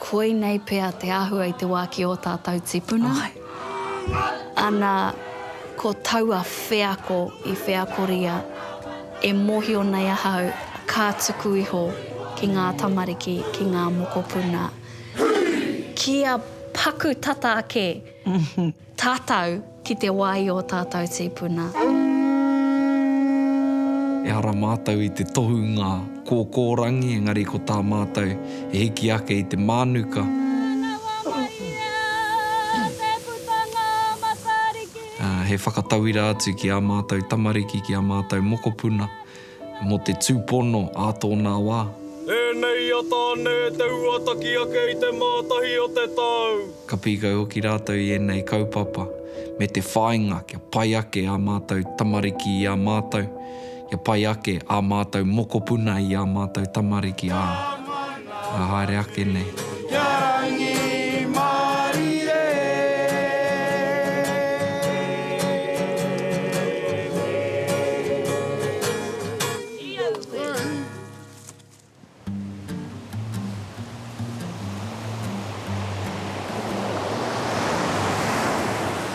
Koinei pea te āhua i te wā ki ō tātou tipuna. Ana ko taua wheako i wheakoria, e mōhio nei ahau, ka tuku iho ki ngā tamariki, ki ngā mokopuna, kia paku tata ake. Tatau ki te wa i o tatou tipuna. Ehara matou i te tohunga kokorangi engari ko ta matou e hiki ake i te manuka. He whakatauira atu ki a matou tamariki, ki a matou mokopuna. Mō te tūpono ā tōnā wā. Ēnei i a Tāne te huataki ake i te Mātahi o te tau. Ka pīkau hoki rātou i ēnei kaupapa me te whāinga kia pai ake ā mātou tamariki i a mātou, kia pai ake ā mātou mokopuna i ā mātou tamariki, ā. Ka haere ake nei. Kia rangi marie.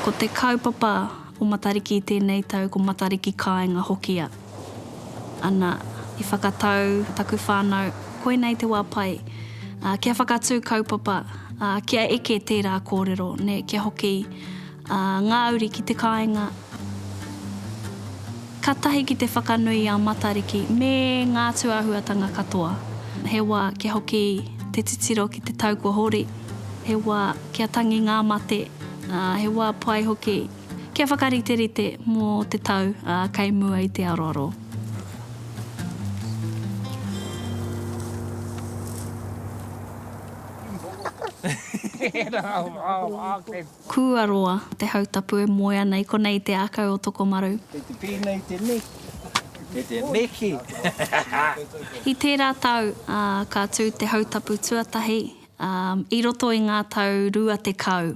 Ko te kaupapa o Matariki tēnei tau ko Matariki Kāinga hoki a. Ana, i whakatau taku whānau, koinei te wā pai, ā, kia whakatū kaupapa, ā, kia eke tērā kōrero, nē, kia hoki, ā, ngā uri ki te kāinga, ka tahi ki te whakanui i a Matariki me ngā tūāhuatanga katoa. He wā kia hoki te titiro ki te tau kua hori, he wā kia tangi ngā mate, ā, he wā pai hoki. Kia whakariterite mō te tau kei mua i te aroaro. Kua roa te hautapu e moe ana i konei te akau o Tokomaru. Kei te pēnei te neki. Kei te neki. I tērā tau ka tū te hautapu tuatahi i roto i ngā tau rua tekau.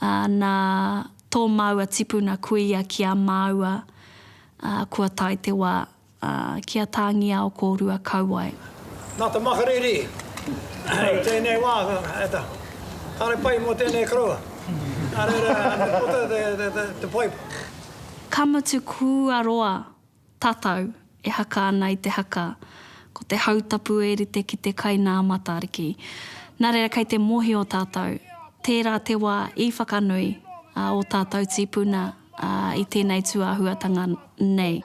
ā, nā tō māua tipuna kuia ki a māua, ā, kua tae te wā, ā, ki a Tāngiao kōrua kau ai. Nā te makariri i tēnei wā, e ta, kāre pai mō tēnei koroua, nā reira, ka puta te, te, te, te poipo. Ka mutu kua roa Tatau, e haka ana i te haka, ko te hautapu e rite ki te kai nā Matariki. Nā reira kei te mohio tātou, tērā te wā i whakanui a o tātou tīpuna i tēnei tūāhuatanga nei.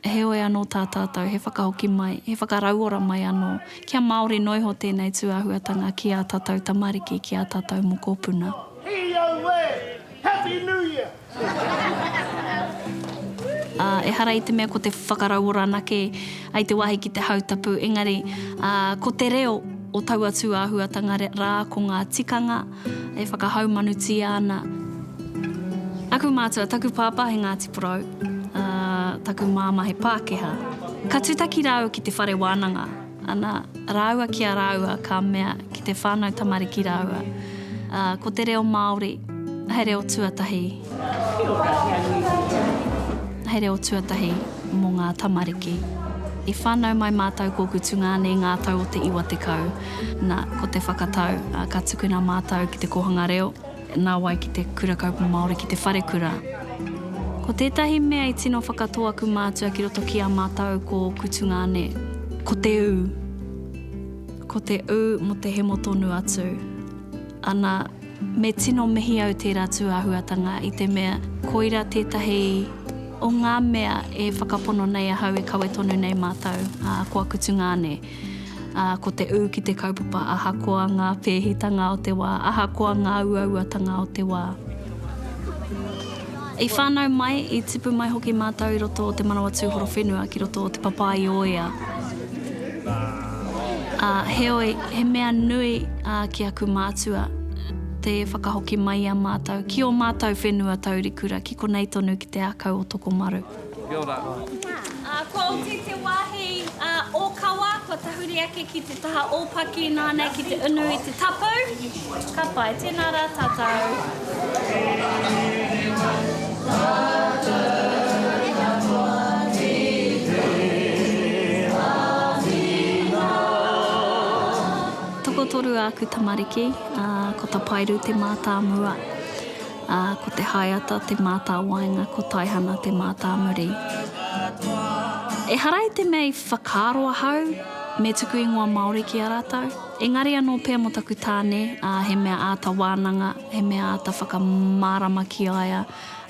Heoi anō tā tātou he whakahoki mai, he whakarauora mai anō, kia māori noa iho tēnei tūāhuatanga ki ā tātou tamariki, ki ā tātou mokopuna. Ā, ehara i te mea ko te whakarauora anake i te wāhi ki te hautapu, engari, ā, ko te reo o taua tūāhuatanga rā ko ngā tikanga, e whakahaumanutia ana aku mātua, taku pāpā he Ngāti Porou, ā, taku māmā he Pākehā. Ka tutaki rāua ki te whare wānanga, ana, rāua ki a rāua ka mea ki te whānau tamariki rāua, ā, ko te reo Māori he reo tuatahi. He reo tuatahi mō ngā tamariki. I whānau mai mātou ko Kutungaane ngā tau o te iwa tekau. Na, ko te whakatau, ka tukuna mātou ki te kōhanga reo, nā wai ki te Kura Kaupapa Māori ki te wharekura. Ko tētahi mea i tino whakatō aku mātua ki roto ki a mātou ko Kutungaane, ko te ū, ko te ū mō te hemo tonu atu, ana, Me tino mihi au tērā tūāhuatanga i te mea koira tētahi o ngā mea e whakapono nei ahau e kawe tonu nei mātou, ā, ko aku tungāne. Ā, ko te ū ki te kaupapa ahakoa ngā pēhitanga o te wā, ahakoa ngā uauatanga o te wā. I whānau mai, i tipu mai hoki mātou i roto o te manawa tūhorowhenua ki roto o te Papaioea. Ā, heoi, he mea nui ki aku mātua te whakahoki mai i a mātou ki ō mātou whenua taurikura ki konei tonu ki te ākau o Tokomaru. Kia ora. Ko Oti te wāhi ōkawa, kua tahuri ake ki te taha ōpaki nāna ki te unu i te tapu. Ka pai, tēnā rā tātou. Tokotoru āku tamariki, ko Tapairu te mātāmua. Ā, ko Te Haeata te mātāwaenga, ko Taihana te mātāmuri. Ehara i te mea i whakaaro ahau me tuku ingoa Māori ki a rātou, engari anō pea mō taku tāne, ā, he mea āta wānanga, he mea āta whakamārama ki a ia,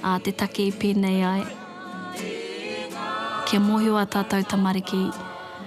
ā, te take i pēnei ai, kia mōhio ā tātou tamariki,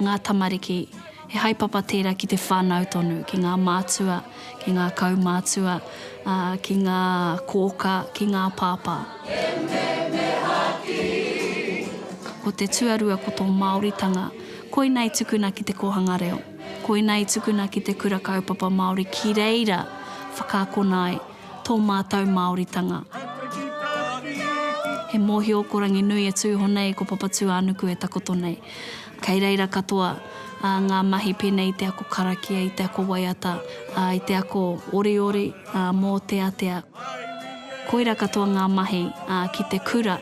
ngā tamariki, he haepapa tērā ki te whānau tonu, ki ngā mātua, ki ngā kaumātua, ā, ki ngā kōkā, ki ngā pāpā. Ko te tuarua ko tō Māoritanga, koina i tukuna ki te kōhanga reo, koina i tukuna ki te Kura Kaupapa Māori ki reira whakaakona ai tō mātou Māoritanga. He mōhio ko Ranginui e tūhonei ko Papatūānuku e takoto nei. Kei reira katoa ngā mahi pēnei i te ako karakia, i te ako waiata, i te ako oriori, mōteatea. Koira katoa ngā mahi ki te kura.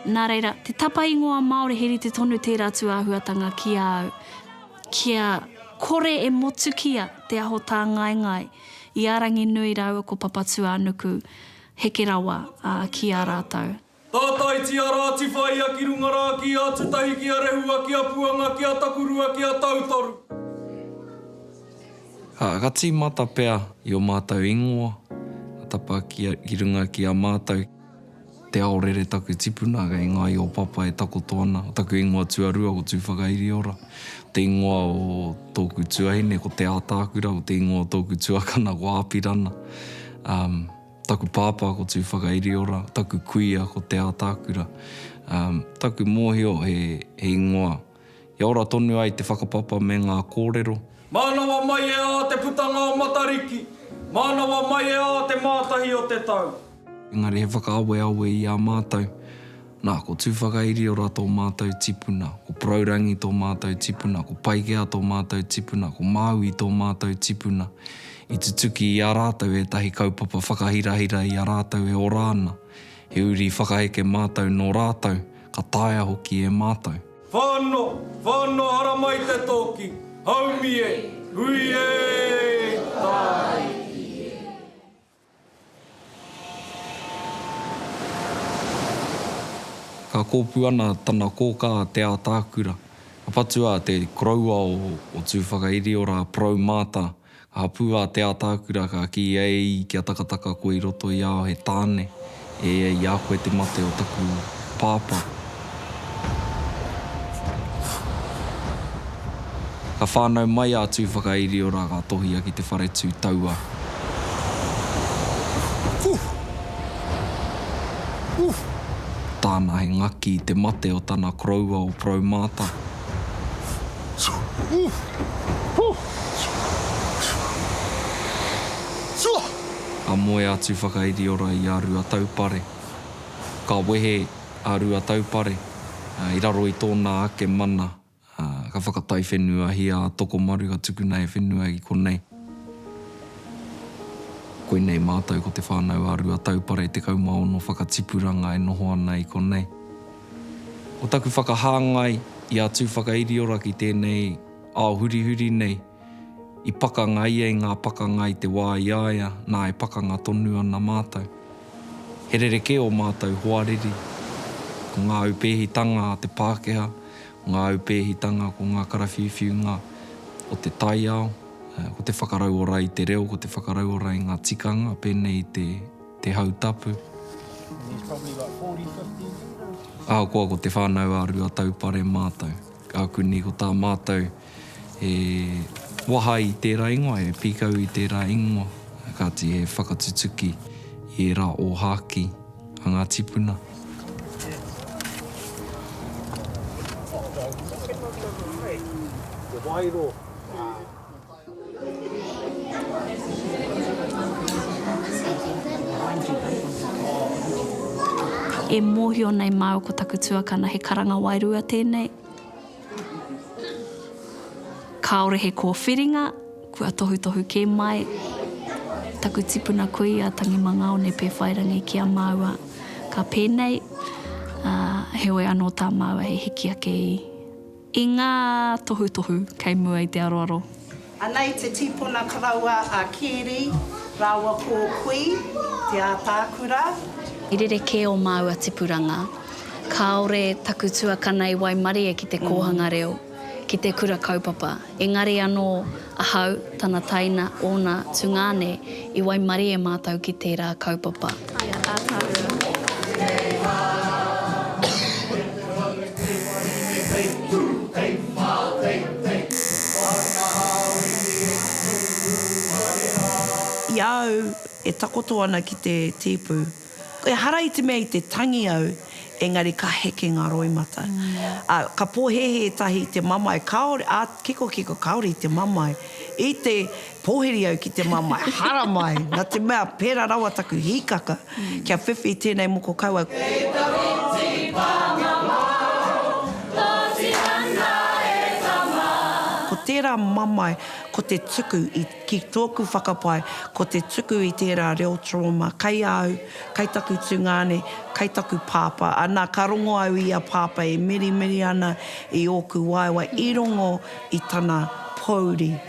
Nā reira, te tapa ingoa Māori he rite tonu tērā tūāhuatanga ki a au kia kore e motukia te aho tāngaengae i a Ranginui rāua ko Papatūānuku heke rawa ki a rātou. Tātaitia rā, tiwhaia ki runga rā, ki a Tutahi, ki a Rehua, ki a Puanga, ki a Takurua, ki a Tautoru. Ā, ka tīmata pea i ō mātou ingoa, ka tapa ki a, ki runga ki a mātou. Te ao rere taku tipuna kei ngā i o Papa e takoto ana, o taku ingoa tuarua ko Tūwhakairiora, te ingoa o tōku tuahine ko Te Ātaakura, ko te ingoa o tōku tuakana ko Āpirana. Ā. Taku pāpā ko Tūwhakairiora, taku kuia ko Te Ātaakura. Taku mōhio he ingoa i ora tonu ai te whakapapa me ngā kōrero. Mānawa mai e ā te putanga o Matariki, mānawa mai e ā te mātahi o te tau. Engari he whakaaweawe i a mātou. Nā, ko Tūwhakairio-ra tō mātou tipuna, ko Porourangi tō mātou tipuna, ko Paikea tō mātou tipuna, ko Māui tō mātou tipuna. I tutuki i a rātou ētahi kaupapa whakahirahira i a rātou e ora ana. He uri whakaheke mātou nō rātou, ka taea hoki e mātou. Whano, whano haramai te toki, haumi e, hui e, tai i e. Ka kōpū ana tana kōkā Te Ātaakura, ka patu a te koroua o Tūwhakairiora Porou Maata, ka hapū a Te Ātaakura ka kī e i kia takataka koe i roto i a au he tāne. E ia i a koe te mate o taku pāpā. Ka whānau mai a Tūwhakairiora ka tohia ki te whare tū taua. Tāna he ngaki i te mate o tana koroua o Proumāta. Tūwhakairiora. a Moe atu whakairiora i a Ruataupare. Ka wehe a Ruataupare i raro i tōna ake mana, ka whakataiwhenuahia a Tokomaru ka tukuna he whenua ki konei. Koinei mātou ko Te Whānau a Ruataupare 16 whakatipuranga e noho ana i konei. Ko taku whakahāngai i a Tūwhakairiora ki tēnei ao hurihuri nei, I pakanga ia i ngā pakanga i te wā i a ia, nā e pakanga tonu ana mātou. He rerekē ō mātou hoariri. Ko ngā aupēhitanga a te Pākehā, ko ngā aupēhitanga, ko ngā karawhiuwhiunga o te taiao, ko te whakarauora i te reo, ko te whakarauora i ngā tikanga, pēnei i te, te hau tapu. Ahakoa ko Te Whānau-ā-Ruataupare mātou, ka kuni ko tā mātou. He waha i tērā ingoa, he pīkau i tērā ingoa, kāti he whakatutuki i ērā ōhākī a ngā tīpuna. E mōhio nei māu ko taku tuakana he karanga wairua tēnei. Kāore he kōwhiringa, kua tohutohu kē mai taku tipuna kui a Tangi Mangaone Pēwhairangi ki a māua ka pēnei, ā, heoi anō tā māua he hiki ake i, i ngā tohutohu kei mua i te aroaro. Ana i te tīpuna karaua a Kēri rāua ko Kui, Te Ātaakura. I rerekē ō māua tipuranga. Kāore taku tuakana i waimarie ki te kōhanga reo, ki te kura kaupapa. Engari anō ahau, tana taina, ōna tungāne, i waimarie mātou ki tērā kaupapa. I a au e takoto ana ki te tīpū, ehara i te mea i te tangi au, engari ka heke ngā roimata. Ā, ka pōhēhē tahi i te mamae, kāore, ā, kikokiko, kāore i te mamae. I te. Pōhiri au ki te mamae, haramai, nā te mea pērā rawa taku hīkaka, kia whiwhi i tēnei moko kaua. Kei te whiti pānga māu, pōti ana e tama. Ko tērā mamae, ko te tuku i, ki tōku whakapae, ko te tuku i tērā reo trauma, kai a au, kai taku tungāne, kai taku pāpā. Anā, ka rongo au i a pāpā e mirimiri ana i ōku waewae, i rongo i tana pōuri.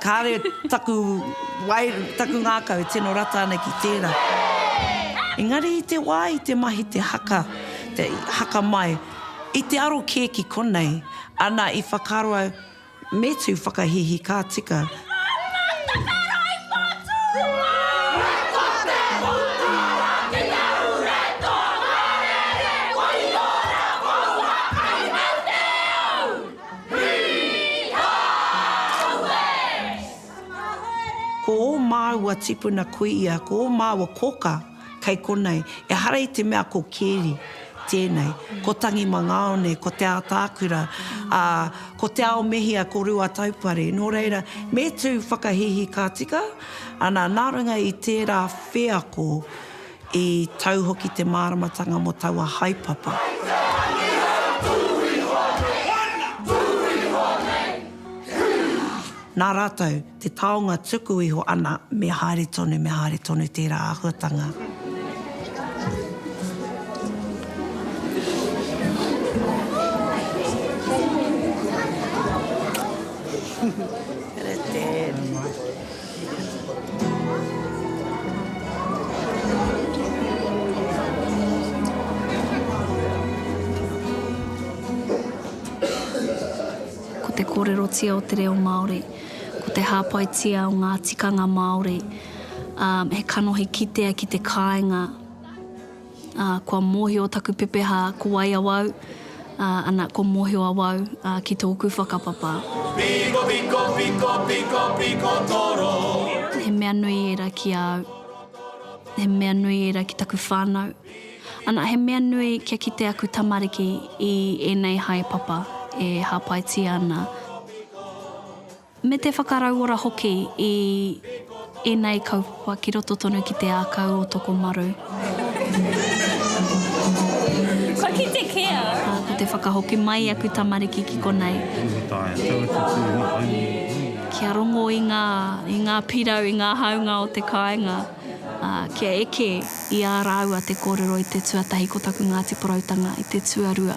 Kāre taku wai, taku ngākau e tino rata ana ki tērā. Engari i te wā i te mahi te haka, te haka mai, i te aro kē ki konei, ana i whakaaro au, me tū whakahīhī ka tika. Ko ō māua tipuna kuia, ko ō māua koka kei konei, ehara i te mea ko Keri tēnei, ko Tangi Mangaone, ko Te Ātaakura, ā, ko Te Aomehia, ko Ruataupare. Nō reira, me tū whakahihī ka tika, ana, nā runga i tērā wheako, I tau hoki te māramatanga mō taua haepapa. Nā rātou te taonga tuku iho ana me haere tonu, me haere tonu tērā āhuatanga. Ko te kōrerotia o te reo Māori, ko te hāpaitia o ngā tikanga Māori, ā, he kanohi kitea ki te kāinga. Ā, kua mōhio taku pepeha ko wai awau, ā, ana, kua mōhio awau, ā, ki tōku whakapapa. Piko, piko, piko, piko, piko toro. He mea nui ērā ki a au. He mea nui ērā ki taku whānau. Ana, he mea nui kia kite aku tamariki i ēnei haepapa e hāpaitia ana. Me te whakarauora hoki i ēnei kaupapa ki roto tonu ki te ākau o Tokomaru. Ko te whakahoki mai aku tamariki ki konei. Kia rongo i ngā, i ngā pirau, i ngā haunga o te kāinga. Kia eke i ā rāua te kōrero i te tuatahi ko taku Ngāti Poroutanga i te tuarua.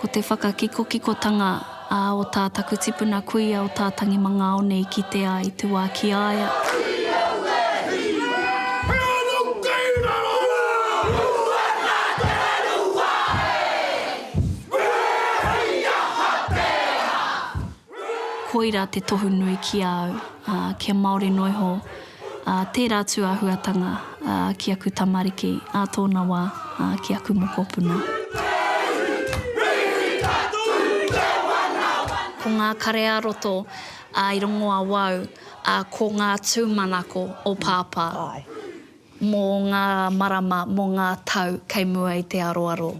Ko te whakakikokikotanga a o tā taku tipuna kuia o tā Tangi Mangaone i kite a i te wā ki a ia. Koira te tohu nui ki a au, ā, kia Māori noa iho, ā, tērā atu āhuatanga, ā, ki aku tamariki, ā tōna wā, ā, ki aku mokopuna. Ko ngā kare-ā-roto, ā, i rongo awau, ā, ko ngā tūmanako o Pāpā. Mō ngā marama, mō ngā tau kei mua i te aroaro.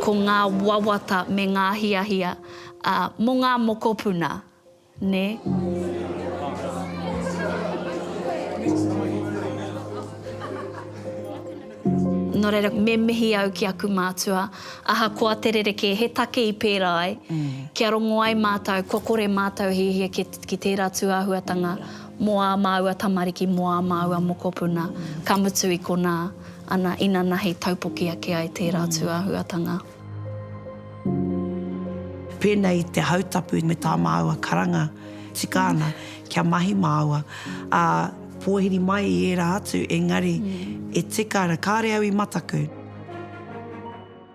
Ko ngā wawata me ngā hiahia, ā, mō ngā mokopuna, nē? Nō reira, me mihi au ki aku mātua, ahakoa te rerekē, he take i pērā ai, kia rongo ai mātou, kua kore mātou e hiahia ki tērā tūāhuatanga mō ā māua tamariki, mō ā māua mokopuna, ka mutu i konā, ana, inanahi, taupoki ake ai tērā tūāhuatanga. Pēnei i te hautapu me tā māua karanga tika ana kia mahi māua, ā, pōhiri mai i ērā atu, engari e tika ana, kāre au i mataku.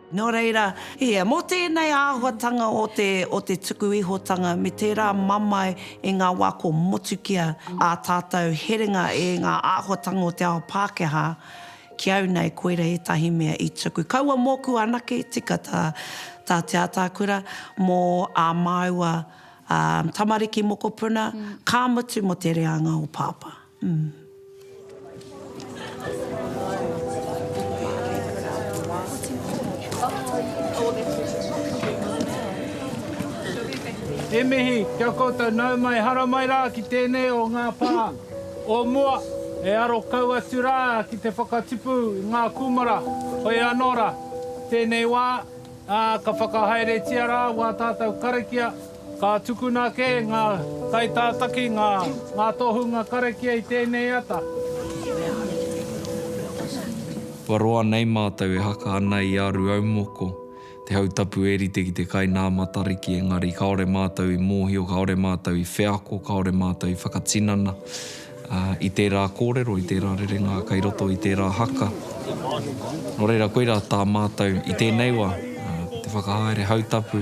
Nō reira, ia, mō tēnei āhuatanga o te tuku ihotanga me tērā mamae i ngā wā kua motukia ā tātou herenga e ngā āhuatanga o te ao Pākehā, Ki au nei koira etahi mea i tuku. Kaua moku anake tika ta ta Te Atakura mo a maua tamariki mokopuna, ka mutu mo te reanga o Papa. He mihi kia koutou nau mai, hara mai ra ki tenei o nga pa. O mua, e aro kau atu rā ki te whakatipu i ngā kūmara, hoi anō rā, tēnei wā, ā, ka whakahaeretia rā wā tātou karakia, ka tukuna kē ngā kaitātaki ngā tohunga karakia i tēnei ata. Kua roa nei mātou e haka ana i a Ruaumoko. Te hau tapu e rite ki te kai nā Matariki engari kāore mātou i mōhio, kāore mātou i wheako, kāore mātou i whakatinana i tērā kōrero, i tērā rerenga kei roto i tērā haka. Nō reira, koirā tā mātou i tēnei wā, ko te whakahaere hau tapu.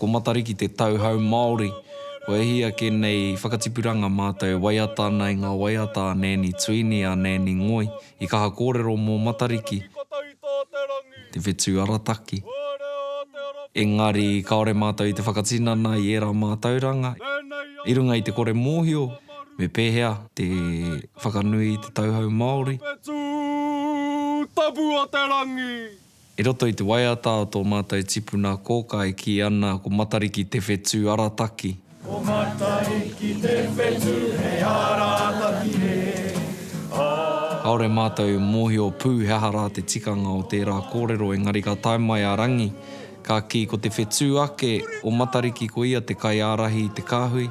Ko Matariki te tauhou Māori. Kua hia kē nei whakatipuranga mātou waiata ana i ngā waiata a Nēni Tuini, a Nēni Ngoi. I kaha kōrero mō Matariki, te whetū arataki, engari kāore mātou i te whakatinana i ērā mātauranga. I runga i te kore mōhio me pēhea te whakanui i te tauhou Māori. I roto i te waiata o tō mātou tipuna kōkā e kī ana ko Matariki Te Whetū arataki. Ko Matariki Te Whetū he arataki hē, ā. Kāore mātou i mōhio pū he aha rā te tikanga o tērā kōrero engari ka tae mai a Rangi ka kī ko te whetū ake o Matariki ko ia te kaiārahi i te kāhui,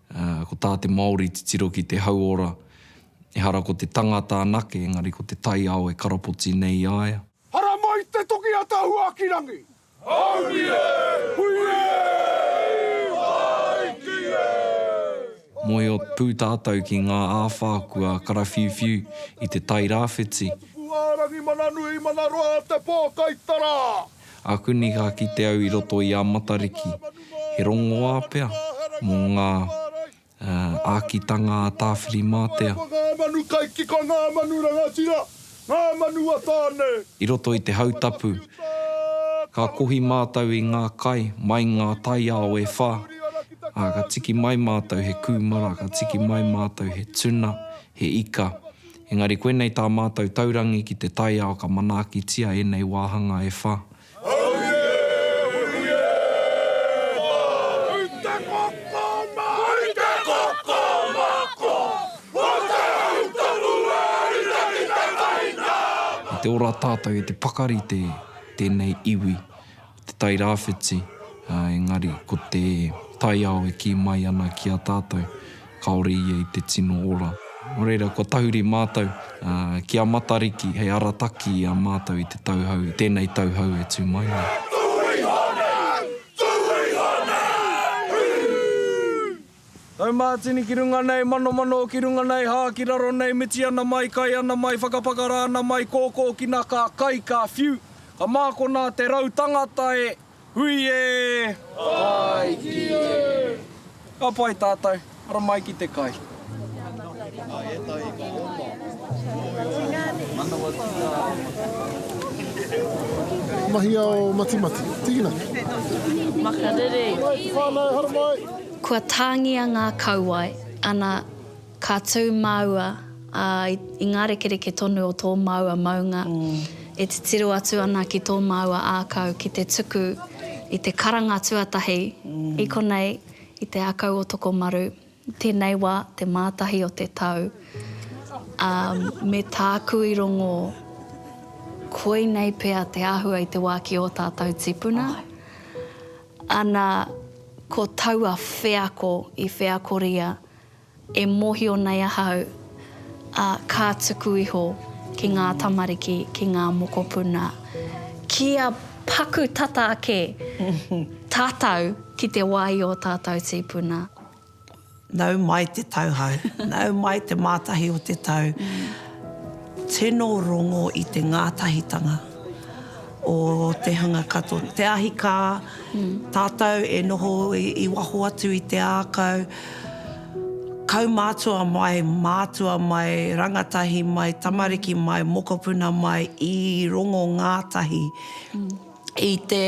Ā, ko tā te Māori titiro ki te hauora, ehara ko te tangata anake, engari ko te taiao e karapoti nei i a ia. Hara mai te toki a ta Huakirangi! Hauri e! Hui e! Whai ki e! Mohio pū tātou ki ngā āwhā kua karawhiuwhiu i te Tai Rāwhiti. Pupuhaerangi Mana Nui Mana Roa Te Pōkaitara. Aku nei ka kite au i roto i a Matariki, he rongoā pea mō ngā ākitanga a Tāwhirimātea. Ngā manu kaiwhaka, ngā manu kaikika, ngā manu rangatira, ngā manu a Tāne. I roto i te hau tapu, ka kohi mātou i ngā kai mai ngā taiao e whā, ā, ka tiki mai mātou he kūmara, ka tiki mai mātou he tuna, he ika. Engari koinei tā mātou taurangi ki te taiao ka manaakitia ēnei wāhanga e wha. I te ora tātou e te pakari te tēnei iwi te Tairāwhiti, ā, engari ko te taiao e kī mai ana ki a tātou, kāore ia i te tino ora. Nō reira, kua tahuri mātou, ā, ki a Matariki hei arataki i a mātou i te tauhou, i tēnei tauhou e tū mai nei. Taumātini ki runga nei, manomano ki runga nei, hā ki raro nei, miti ana mai, kai ana mai, whakapakara ana mai, kōkōkina ka kai, ka whiu, ka mākona te rau tangata e, hui e! Pai ki e! Ka pai tātou, ara mai ki te kai. Mahi ao matimati, tīkina. Makariri. Whānau, haramai. Kua tāngia ngā kauae, ana ka tū māua ā, i ngā rekereke tonu o tō māua maunga, e titiro atu ana ki tō māua ākau ki te tuku i te karanga tuatahi, i konei, i te akau o Tokomaru, tēnei wā, te Mātahi o te tau, ā, me tāku i rongō, koinei pea te āhua i te wā ki ō tātau tīpuna. Ana ko taua wheako i wheakoria e mohio nei ahau, a, ka tuku iho ki nga tamariki, ki nga mokopuna, kia paku tata ake tatou ki te wa i o tatou tipuna. Nau mai te tau hau, nau mai te mātahi o te tau, tino rongo i te ngātahitanga o te hunga katoa. Te ahi kā, tātou e noho i waho atu i te ākau, kaumātua mai, mātua mai, rangatahi mai, tamariki mai, mokopuna mai, i rongo ngātahi. i te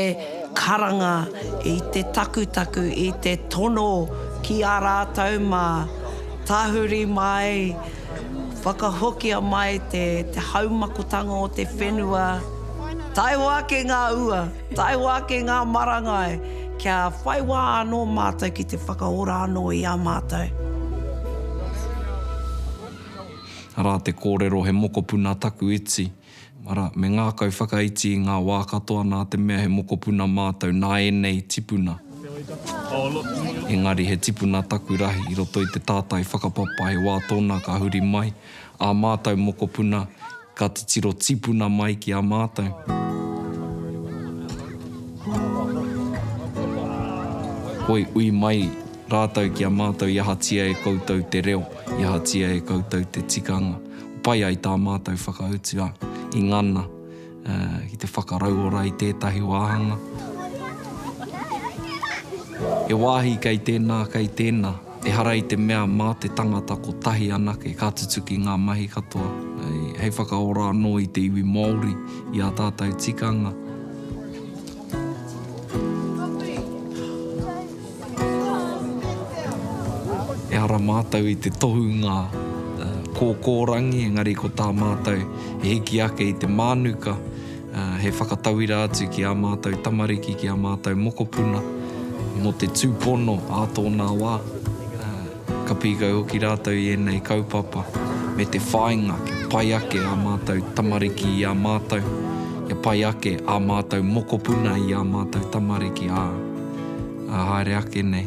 karanga, i te takutaku, i te tono ki a rātou mā, tahuri mai, whakahokia mai te haumakotanga o te whenua, taihoa ake ngā ua, taihoa ake ngā marangai, kia whai wā anō mātou ki te whakaora anō i a mātou. Arā te kōrero he mokopuna taku iti. Arā, me ngākau whakaiti i ngā wā katoa nā te mea he mokopuna mātou nā ēnei tipuna. Engari he tipuna taku rahi i roto i te tātai whakapapa he wā tōna ka huri mai ā mātou mokopuna ka titiro tipuna mai ki a mātou. Hoi, ui mai rātou ki a mātou i ahatia e koutou te reo, i ahatia e koutou te tikanga. Pai ai tā mātou whakautua i ngana ki te whakarauora i tētahi wāhanga. He wāhi kei tēnā, kei tēnā. Ehara i te mea mā te tangata kotahi anake ka tutuki ngā mahi katoa hei whakaora anō i te iwi Māori, i ā tātou tikanga. Ehara mātou i te tohunga kōkōrangi, engari ko tā mātou he hiki ake i te mānuka, he whakatauira atu ki ā mātou tamariki, ki ā mātou mokopuna mō te tūpono ā tōnā wā. Ka pīkau hoki rātou i ēnei kaupapa me te whāinga kia pai ake ā mātou tamariki i a mātou, kia pai ake ā mātou mokopuna i ā mātou tamariki, ā, ā haere ake nei.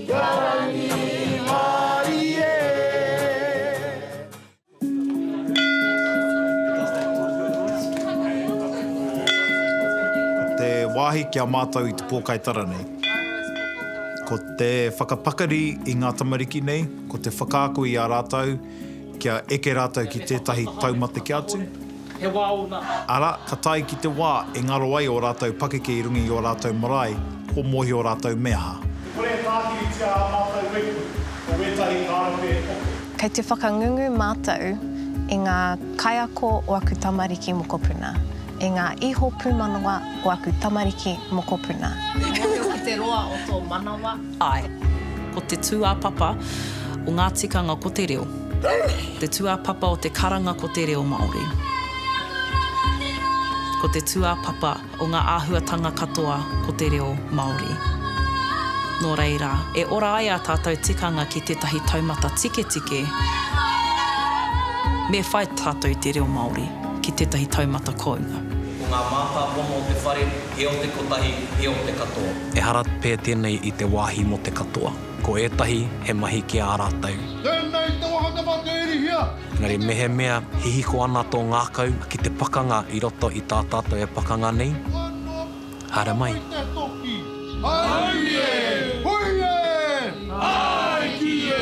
Ka rangi mai e. Te wāhi ki a mātou i te pōkai tara nei. Ko te whakapakari i ngā tamariki nei, ko te whakaako i a rātou, kia eke rātou ki tētahi taumateke atu, arā, ka tae ki te wā e ngaro ai ō rātou pakeke i runga i ō rātou marae, kua mōhio rātou me aha. Kore e tākiritia ā mātou whetu ko wētahi kārepe e toke. Kei te whakangungu mātou i ngā kaiako o aku tamariki mokopuna, i ngā iho pūmanawa o aku tamariki mokopuna. He mōhio ki te roa o tō manawa. Āe. Ko te tūāpapa o ngā tikanga ko te reo. Te tūāpapa o te karanga ko te reo Māori. Ko te tūāpapa o ngā āhuatanga katoa ko te reo Māori. Nō reira, e ora ai ā tātou tikanga ki tētahi taumata tiketike, me whai tātou i te reo Māori ki tētahi taumata kounga. Ko ngā mātāpono o te whare, he o te kotahi, he o te katoa. Ehara pea tēnei i te wāhi mō te katoa. Ko ētahi, he mahi ki ā rātou. Tēnei te wāhanga mā te irihia. Engari mehemea hihiko ana tō ngākau ki te pakanga i roto i tā tātou e pakanga nei, haere mai. Mai te toki. Aui e! Hui e! Āe ki e!